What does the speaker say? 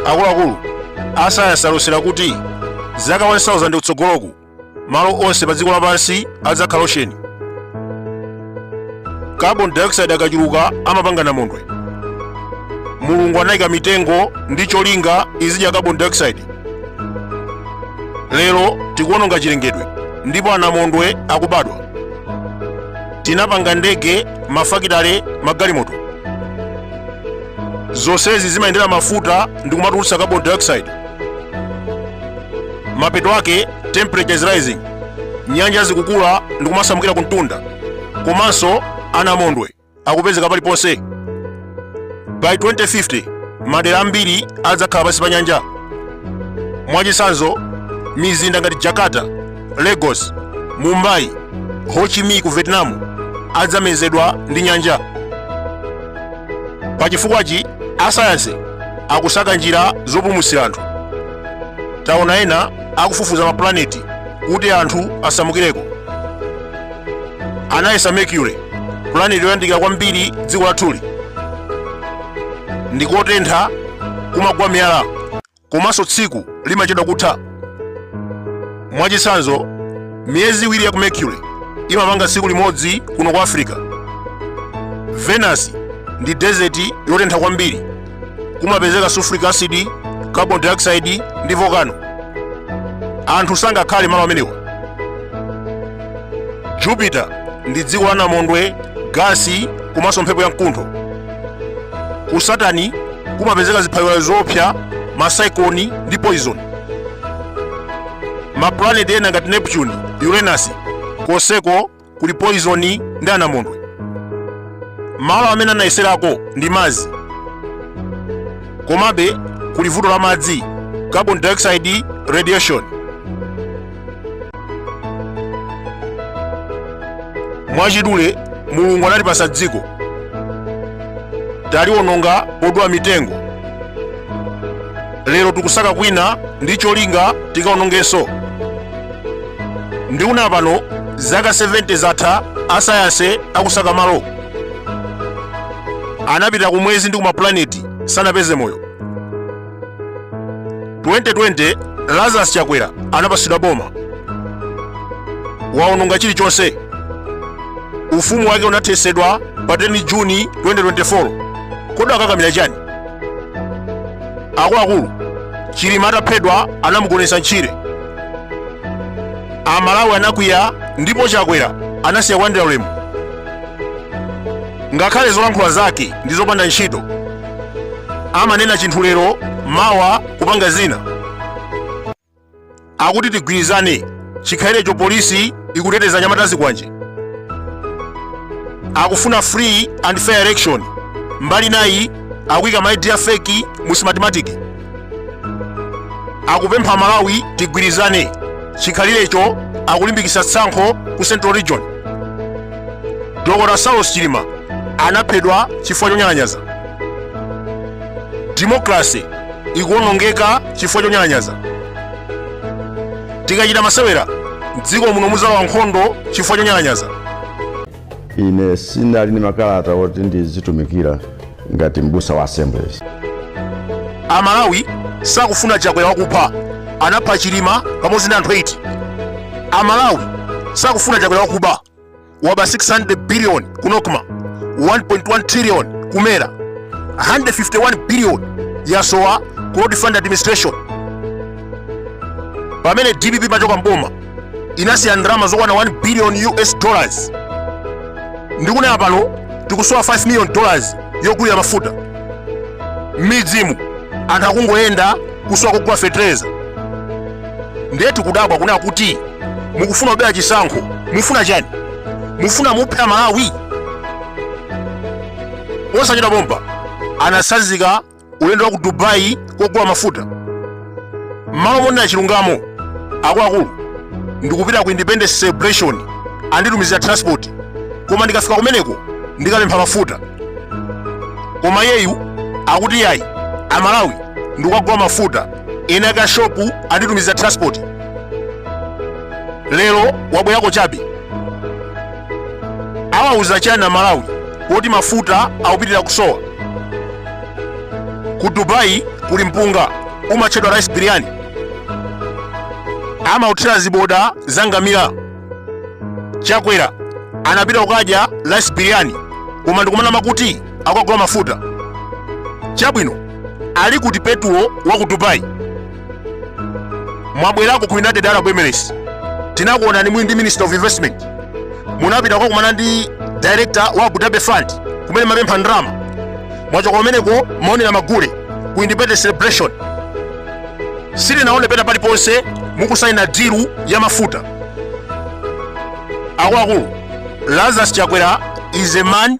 akuluakulu asayansi alosera kuti zaka 1000 kutsogoloku malo onse pa dziko lapansi adzakhala ocean carbon dioxide akachuluka amapanga namondwe mulungu anayika mitengo ndi cholinga izidya carbon dioxide lero tikuwononga chilengedwe ndipo anamondwe akubadwa tinapanga ndege mafakitale magalimoto zonsezi zimayendera mafuta ndi kumatulutsa carbon dioxide mapeto ake temperature is rising nyanja zikukula ndi kumasamukira kumtunda komanso anamondwe akupezeka paliponse by 2050 madera ambiri adzakhala pansi pa nyanja mwachitsanzo mizinda ngati jakarta lagos mumbai ho chi minh ku vietnam adzamezedwa ndi nyanja pa chifukwachi asayansi akusaka njira zopulumutsira anthu taona ena akufufuza mapulaneti kuti anthu asamukireko anayesa mercury pulaneti yoyandikira kwambiri dziko lathuli ndikotentha kumagwa miyala komanso tsiku limachedwa kutha mwachitsanzo miyezi iwiri ya ku mercury imapanga tsiku limodzi kuno ku africa venus ndi desert yotentha kwambiri kumapezeka sulfuric acid carbon dioxide ndi volcano anthu sangakhale malo amenewa jupiter ndi dziko la namondwe gasi komanso mphepo ya mkuntho ku saturn kumapezeka ziphaliwali zoopsa masaikoni ndi poison maplaneti ena ngati neptune uranus konseko kuli poizoni ndi anamondwe malo amene anayeserako ndi mars komabe kuli vuto la madzi carbon dioxide radiation mwachidule mulungu anatipasa dziko taliwononga podula mitengo lero tikusaka kwina ndi cholinga tikaonongenso ndi inu pano zaka 70 zatha asayansi akusaka malo anapita ku mwezi ndi kumaplaneti sanapeze moyo 2020 lazarus chakwera anapasidwa boma waononga chilichonse ufumu wake unathesedwa pa 10 juni 2024 kodi wakakamira chani akuluakulu chilima ataphedwa anamugonetsa ntchire amalawi anakwiya ndipo chakwera anasiya kulandira ulemu ngakhale zolankhula zake ndi zopanda ntchito amanena chinthu lero mawa kupanga zina akuti tigwirizane chikhalirecho polisi ikuteteza anyamata azikwanje akufuna free and fair election mbali inayi akuyika maidi ya feki mu smartmatic akupempha amalawi tigwirizane chikhalirecho akulimbikitsa tsankho ku central region dr saulos chilima anaphedwa chifukwa chonyalanyaza democracy ikuwonongeka chifukwa chonyalanyaza tikachita masewera mdziko muno muzalowa nkhondo chifukwa chonyalanyaza ine sindinali ndi makalata oti ndizitumikira ngati mbusa wa assemblies amalawi sakufuna chakwera wakupha anapha chilima pamodzi ndi anthu 8 amalawi sakufuna chakwera wakuba waba 600 billion ku nocma 1.1 trillion ku mera 151 billion yasowa ku road fund administration pamene dpp imachoka mboma inasiya ndalama zokwana 1 billion us dollars ndikunena pano tikusowa 5 million dollars yogulira mafuta m'midzimu anthu akungoyenda kusowa kugula fetereza ndiye tikudabwa kunena kuti mukufuna kubera chisankho mufuna chani mufuna muphe amalawi osachita bomba anatsanzika ulendo wa ku dubai kogula mafuta mmalo monena chilungamo akuluakulu ndikupita ku independence celebration anditumizira transport koma ndikafika kumeneko ndikapempha mafuta koma yeyu akuti yayi amalawi ndikukagula mafuta ine akashopu anditumiza transport lero wabwerako chabe awauza chiyani amalawi kuti mafuta akupitirira kusowa ku dubai kuli mpunga umatchedwa rice biryani amauthira ziboda za ngamira chakwera anapita kukadya rice biryani koma ndikumanama kuti akugula mafuta chabwino ali kuti petulo wa ku dubai mwabwerako ku united arab emirates tinakuonani muli ndi minister of investment munapita kukakumana ndi director wa abu dhabi fund kumene mumapempha ndalama mwachoka kumeneko mumaonera magule ku independence celebration sitinaone pena paliponse mukusayina dilu ya mafuta akuluakulu lazarus chakwera is a man